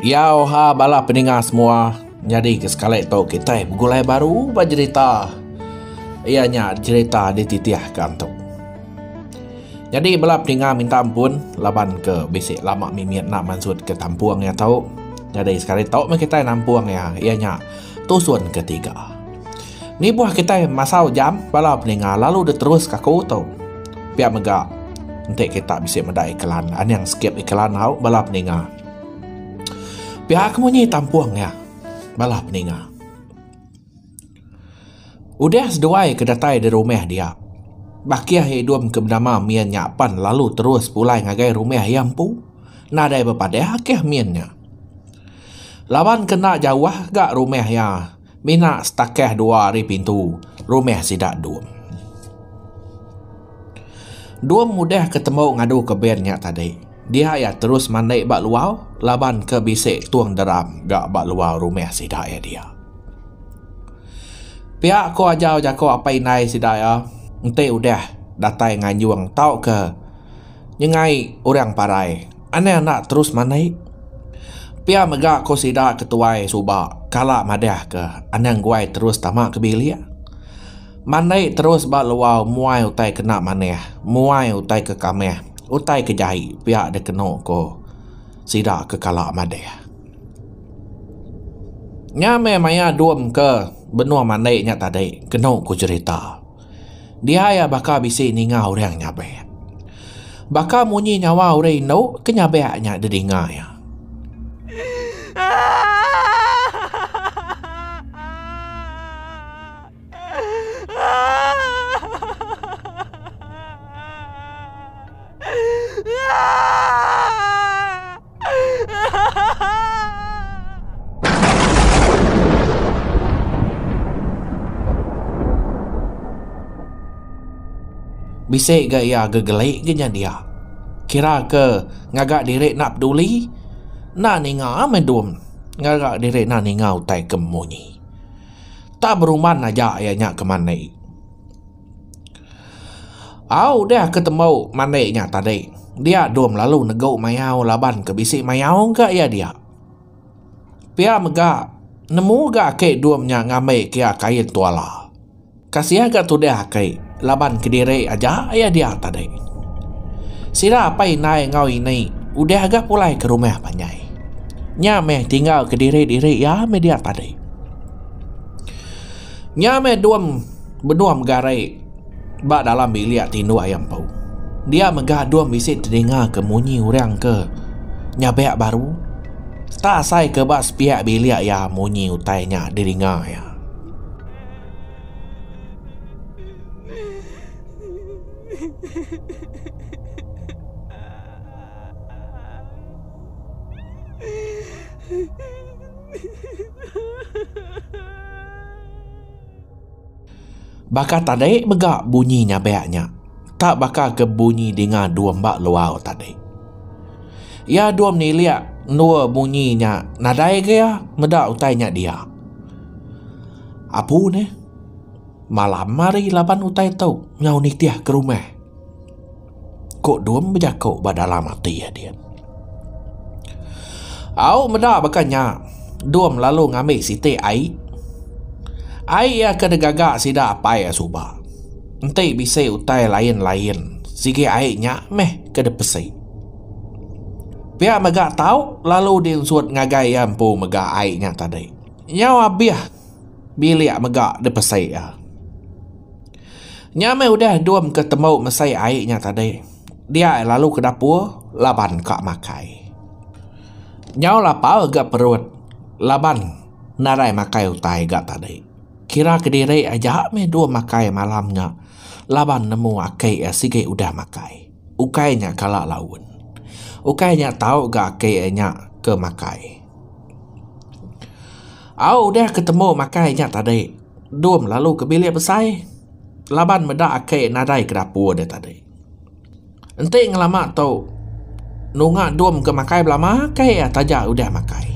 Yau ha bala peninga semua nyadi ke sekali tu kitai begulai baru ba jerita iya nya jerita dititihka tu. Nyadi bala peninga minta ampun laban ke bisi lama mimit enda mansut ke tampung iya tu. Nyadi sekali tu meh kitai nampung iya iya nya tusun ketiga. Nibuh kitai masau jam bala peninga lalu diteruska aku tu. Pia mega enti kita bisi meda iklan aning sikit iklan hau bala peninga. Pia ke munyi tampung iya bala peninga. Udah seduai ke datai di rumah dia bakih hidung ke benama min nya pan lalu terus pulai ngagai rumah iya empu nadai bepadah akih min nya. Laban ke enda jauh ga rumah iya. Mina setakah dua ari pintu rumah sida Dum. Dum mudah ke temu ngadu ke band nya tadi. Dia iya terus mandi ba luar laban ke bisi tung deram ga ba luar rumah sida iya dia. Pia ko ajau jako apai indai sida iya enti udah datai nganjung tauka Nyengai orang parai, anang enda terus mandi. Pia mega ko sida ke tuai suba kala madah ke anang guai terus tama ke bilik. Mandi terus ba luar muai utai kena manah, muai utai ke kamah, utai ke jai pia dikeno ko sida ke kala madah. Nya meh maya dom ke benung mandi nya tadi keno ko jerita. Dia iya baka bisi ninga orang nyabek. Baka munyi nyawa orang indu ke nyabek nya didinga iya. Bisi ga iya gegeli ga nya dia. Kira ke ngaga diri enda peduli, enda ninga meh dom ngaga diri enda ninga utai ke munyi. Tak beruman aja iya nya ke mandi. Au udah aku tembau mandi nya tadi. Dia dong lalu negu mayau laban ke bisi mayau ga iya dia. Pia mega nemu ga ake dong nya ngambi ke iya kain tuala. Kasiah ga tudah ake laban kediri aja iya dia tadi. Sida apai indai enggau ini udah ga pulai ke rumah panjai. Nya meh tinggal kediri diri iya meh dia tadi. Nya meh dong. Benung mega ari ba dalam bilik tinduk iya empu. Dia mega dong bisi telinga ke munyi orang ke nyabek baru. Seta asai ke ba sepiak bilik iya munyi utai nya di dinga iya. Baka tadi mega bunyi nyabek nya. Tak baka ke bunyi dinga dua mba luau tadi. Iya dua menilik endur bunyi nya nadai ga iya meda utai nya dia. Apu neh. Malam ari laban utai tu nyau nitih ke rumah. Ku Dum bejaku ba dalam ati adin. Au meda baka nya, Dum lalu ngambi siti ai. Ai iya ke digaga sida apai iya suba. Enti bisi utai lain-lain sigi ai nya meh ke dipesi. Pia mega tau lalu dinsut ngagai iya empu mega ai nya tadi. Nyau abih bilik mega dipesi iya. Nya meh udah endum ke tembu mesei ai nya tadi. Dia ai lalu ke dapur laban ka makai. Nyau lapar ga perut laban nadai makai utai ga tadi. Kira kediri aja meh endum makai malam nya laban nemu aki iya sigi udah makai. Ukai nya kala laun. Ukai nya tau ga aki iya nya ke makai. Au udah ke tembu makai nya tadi. Dum lalu ke bilik besai laban meda ake nadai ke dapur dia tadi. Enti ngelama tu nunga dum ke makai belama ke ia taja udah makai.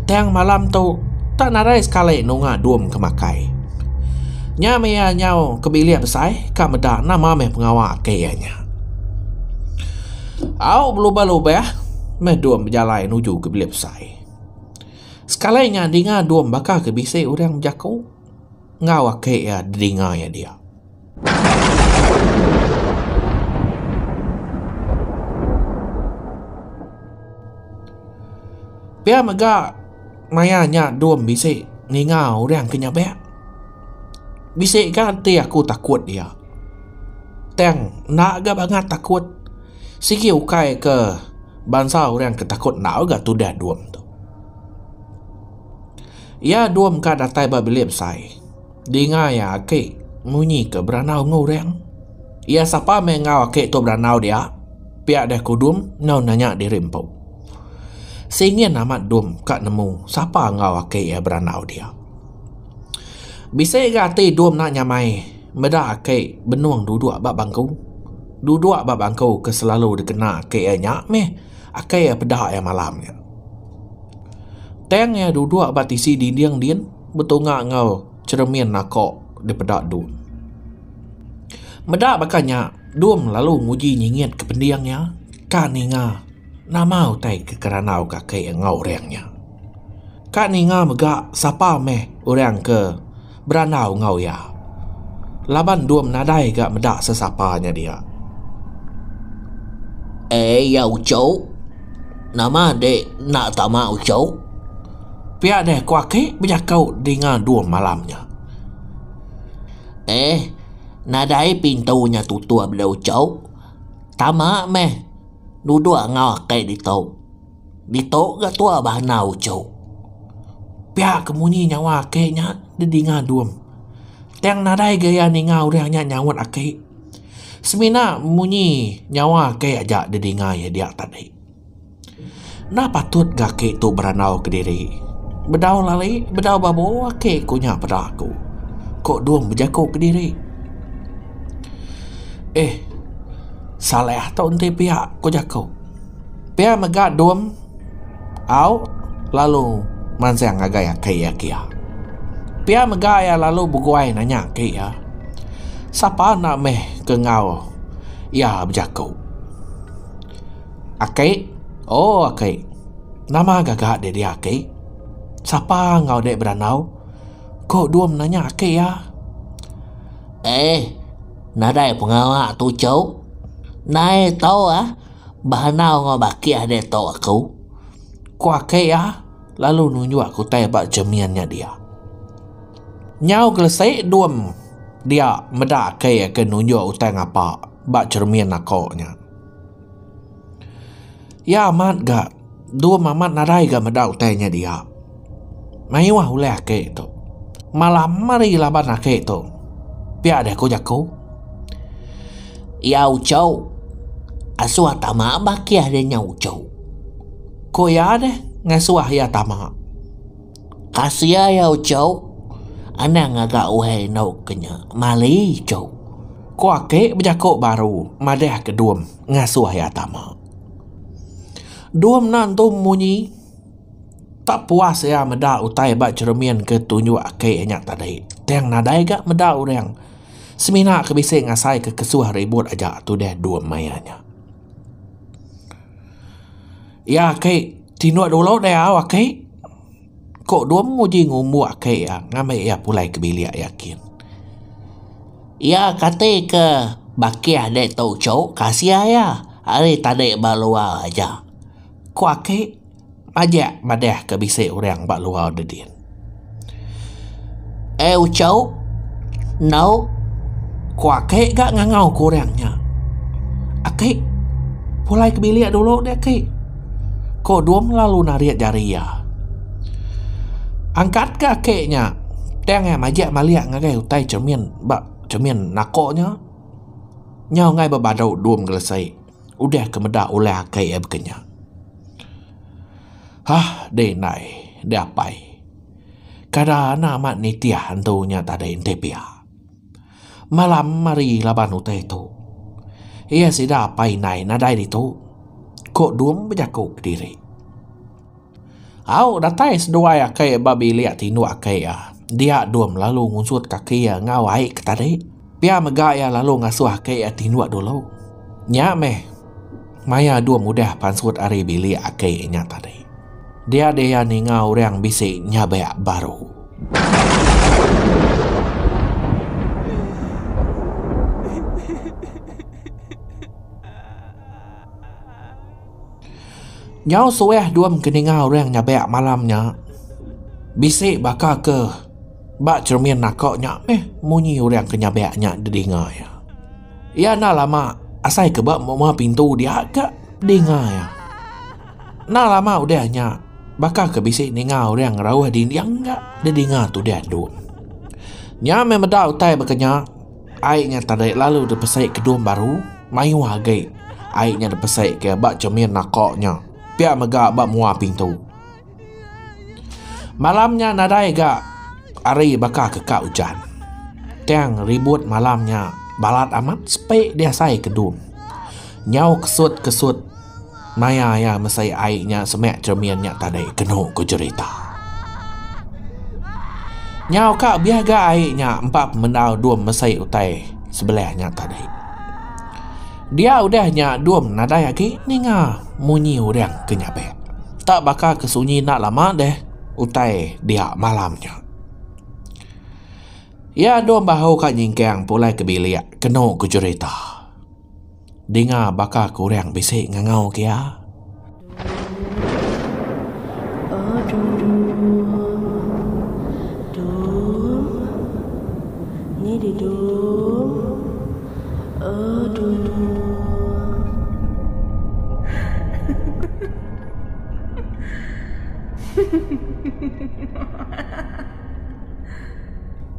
Tang malam tu tak nadai sekali nunga dum ke makai. Nya meh ia nyau ke bilik besai ka meda nama meh pengawa ake ia nya. Au belubah-lubah meh dum bejalai nuju ke bilik besai. Sekalai nya dinga dom baka ke bisi orang bejako enggau ake iya dinga iya dia. Pia mega maya nya dom bisi ninga orang ke nyabek. Bisi ga ti aku takut iya. Tang enda ga bangat takut. Sigi ukai ke bansa orang ke takut enda ga tudah dom tu. Iya dom ka datai ba bilik besai. Dinga iya aki munyi ke berandau enggau orang. Iya sapa meh enggau aki tu berandau dia pia deh kudum enggau nanya diri empu. Singin amat dom ka nemu sapa enggau aki iya berandau dia. Bisi ga ati dom enda nyamai. Meda ake benung duduk ba bangku. Duduk ba bangku ke selalu dikena ake iya nya meh ake iya peda iya malam nya. Tang iya duduk ba tisi dinding din betunga enggau cheremin ako dipeda Dum. Meda baka nya Dum lalu nguji nyingit ke pending iya ka ninga nama utai ke kerandau ke ake iya enggau orang nya. Ka ninga mega sapa meh orang ke. berandau enggau iya laban dom nadai ga meda sesapa nya dia. Eh iya uchu. Nama ende enda tama uchu? Pia deh ku aki bejaku dinga dom malam nya. Eh nadai pintu nya tutup deh uchu. Tama meh duduk enggau aki ditu. Ditu ga tua bah enau uchu. Pia ke munyi nyawa aki nya didinga dum. Tang nadai ga iya ninga orang nya nyaut aki. Semina munyi nyawa aki aja didinga iya dia tadi. Enda patut ga aki tu berandau kediri. Bedau lali bedau babo aki ku nya peda aku, ku dum bejaku kediri. Eh Saleh tu enti pia ku jaku. Pia mega dom au lalu mansang ngagai aki iya kia. Pia mega iya lalu beguai nanya aki iya, Sapa enda meh ke enggau iya bejaku? Aki, Oh aki, nama gaga dek dia aki? Sapa enggau dek berandau? Ku dom nanya aki iya. Eh. nadai pengawa tu cheu nai tau ah behanau enggau bakih deh tau aku ku ake iya lalu nunjuk aku tai ba cermin nya dia nyau kelese dum dia meda ake iya ke nunjuk utai ngapa ba cermin ako nya. Iya amat ga dum amat nadai ga meda utai nya dia. Mayuh mah ulih ake tu. Malah meri laban ake tu. Pia deh ku jaku. Iya uchu. Asuh tama bakih deh nya uchu. Ku iya deh ngasuh iya tama. Asia iya uchu anang ngaga uai endo ke nya mali ichu ku ake bejaku baru madah ke dom ngasuh iya tama dom enda entu munyi tak puas iya meda utai ba cermin ke tunjuk ake iya nya tadi tang nadai ga meda orang semina ke bisi ngasai ke kesuh ribut aja tudah dom main iya nya iya ake Tinduk dulu deh au aki. Ku Dum nguji ngumbu aki iya ngambi iya pulai ke bilik iya kin. Iya kati ke bakih dek tu cuk kasih iya ari tadi ba luar aja. Ku aki majak madah ke bisi orang ba luar dedin. Eh Uchau, enggau ku ake ga ngangau ku orang nya. Ake pulai ke bilik dulu deh ake. Ko Dum lalu narit jari iya. Angkat ke ake nya tang iya majak malik ngagai utai cermin ba cermin nako nya. Nyau angai bebadu Dum gelesei. udah ke meda ulih ake iya baka nya. Hah deh indai deh apai kada enda amat nitih antu nya tadi enti pia malam hari laban utai tu iya sida apai indai nadai ditu ko Dung bejaku kediri. Au datai seduai aki ba bilik tinduk aki iya. Dia dum lalu ngusut kaki iya enggau ai ke tadi. Pia mega iya lalu ngasuh aki iya tinduk dulu. Nya meh maya dum udah pansut ari bilik aki nya tadi. Dia deh iya ninga orang bisi nyabek baru. Nyau suah dua mengkeninga orang nyabak malam nya bisi baka ke ba cermin naka nya meh munyi orang ke nyabak nya dinga iya. Iya enda lama asai ke ba muma pintu dia ka dinga iya. Enda lama udah nya baka ke bisi ninga orang ngerauh dinding ka dinga tudah tu. Nya meh meda utai baka nya Ai nya tadai lalu dipesai ke dom baru, mayuh agi ai nya dipesai ke ba cermin naka nya, pia mega ba mua pintu. Malam nya nadai ga hari baka ke ka ujan. Tang ribut malam nya balat amat sepi diasai ke dom. Nyau kesut-kesut. Maya iya mesai ai nya semek cermin nya tadai kenu ku jerita. Nyau ka biah ga ai nya empa pemendau dum mesai utai sebelah nya tadai. Dia udah nya dum nadai agi ninga munyi urang ke nyabek. Tak baka ke sunyi enda lama deh utai dia malam nya. Iya dum bahu ka nyingkang pulai ke bilik kenu ku jerita. Dinga baka ke orang bisi ngangau ke iya.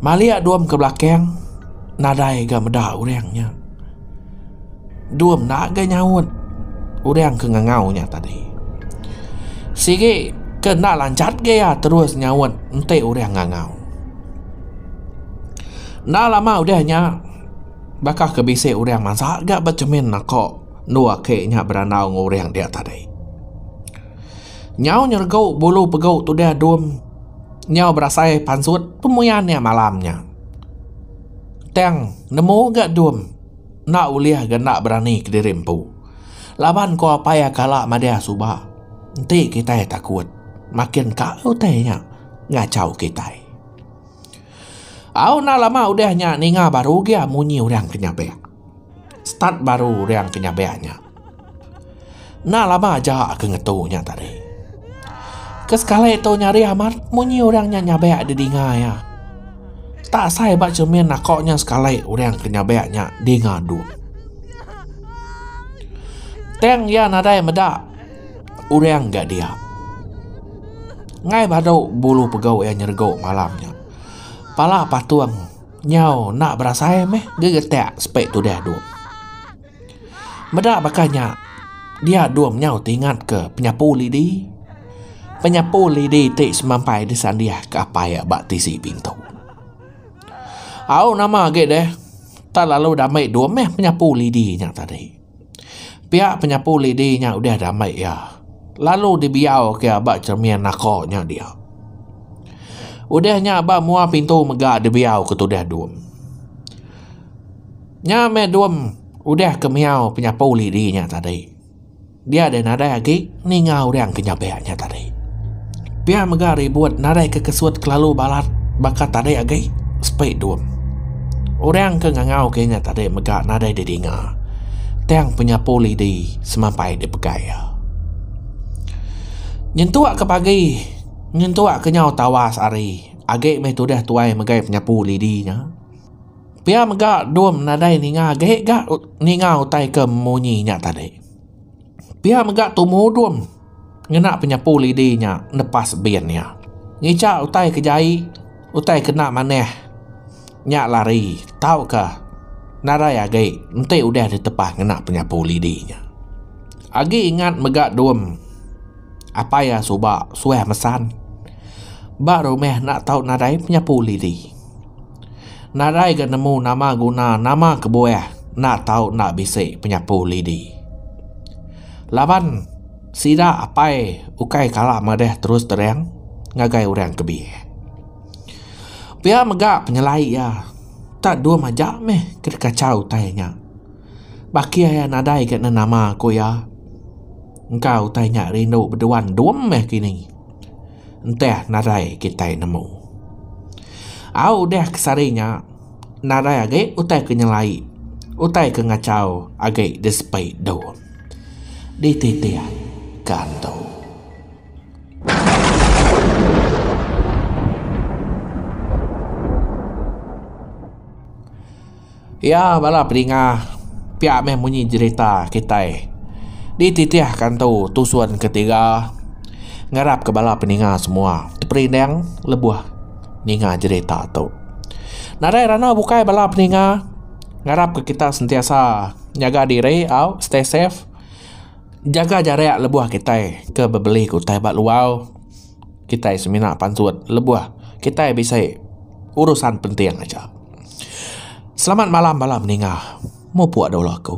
Malik dom ke belakang nadai ga meda orang nya. Dua menda ga nyaut orang ke ngangau nya tadi. Sigi ke enda lanjat ga iya terus nyaut enti orang ngangau. Enda lama udah nya baka ke bisi orang mansa ga ba chemin naka endur aki nya berandau enggau orang dia tadi. Nyau nyeregu bulu pegu tudah dum nyau berasai pansut pemuyan iya malam nya. Tang nemu ga dum enda ulih ga enda berani kediri empu. Laban ko apai iya kala madah suba enti kitai takut makin ka utai nya ngachau kitai. Au enda lama udah nya ninga baru gia munyi orang ke nyapak. start baru orang ke nyabai nya. Enda lama aja aku ngetu nya tadi. Ke sekali tu nya hari amat munyi orang nya nyabai di dinga iya. Tak asai ba cermin aku nya sekali orang ke nyabai nya dinga duk. Tang iya nadai meda orang ga dia. Ngai badu bulu pegau iya nyerego malam nya. Pala patung. Nyau enda berasai meh gegetak sepi tudah dom. Meda baka nya, dia dom nyau ti ingatka penyapu lidi. Penyapu lidi ti semampai disandihka apai iya ba tisi pintu. Au nama agi deh, tak lalu dame dom meh penyapu lidi nya tadi. Pia penyapu lidi nya udah diambai iya lalu dibiau ke iya ba cermin naka nya dia. Udah nya ba mua pintu mega dibiau ke tudah dum. Nya meh dum udah ke miau penyapu lidi nya tadi. Dia deh nadai agi. ninga orang ke nyabek nya tadi. Pia mega ribut naraika kesut kelalu balat baka tadi agi sepi dum. Orang ke ngangauka inya tadi mega nadai didinga tang penyapu lidi semampai dipegai iya. Nyentukka pagi nyentukka nyau tawas hari agi meh tudah tuai megai penyapu lidi nya. Pia mega dum nadai ninga agi ga ninga utai ke munyi nya tadi. Pia mega tu mudom ngena penyapu lidi nya nepas bin iya. Ngica utai ke jai, utai ke enda manah nya lari tauka nadai agi enti udah ditepah ngena penyapu lidi nya. Agi ingat mega dom apai iya suba suah mesan ba rumah enda tau nadai penyapu lidi. Nadai ga nemu nama guna nama kebuah enda tau enda bisi penyapu lidi. Laban sida apai ukai kala madah terus terang ngagai orang ke biak. Pia mega penyelai iya enta dua maja meh ke dikachau utai nya. Ba kia iya nadai ga nemu nama ku iya engka utai nya rindu beduan dum meh kini. Entah nadai kitai nemu. Au udah ke sehari nya, nadai agi utai ke nyelai, utai ke ngachau agi disepai Don. Dititih ke antu. Iya bala pedingah pia meh munyi jerita kitai di titih ka entu tusun ke tiga ngarap ke bala pedingah semua teperinding lebuh ninga jerita tu. Nadai randau bukai bala pedingah ngarap ke kita sentiasa nyaga diri au stay safe jaga jarak lebuh kitai ke bebeli ke utai ba luar kitai semina pansut lebuh kitai bisi urusan penting aja. Selamat malam bala meninga. Mupuk dulu aku.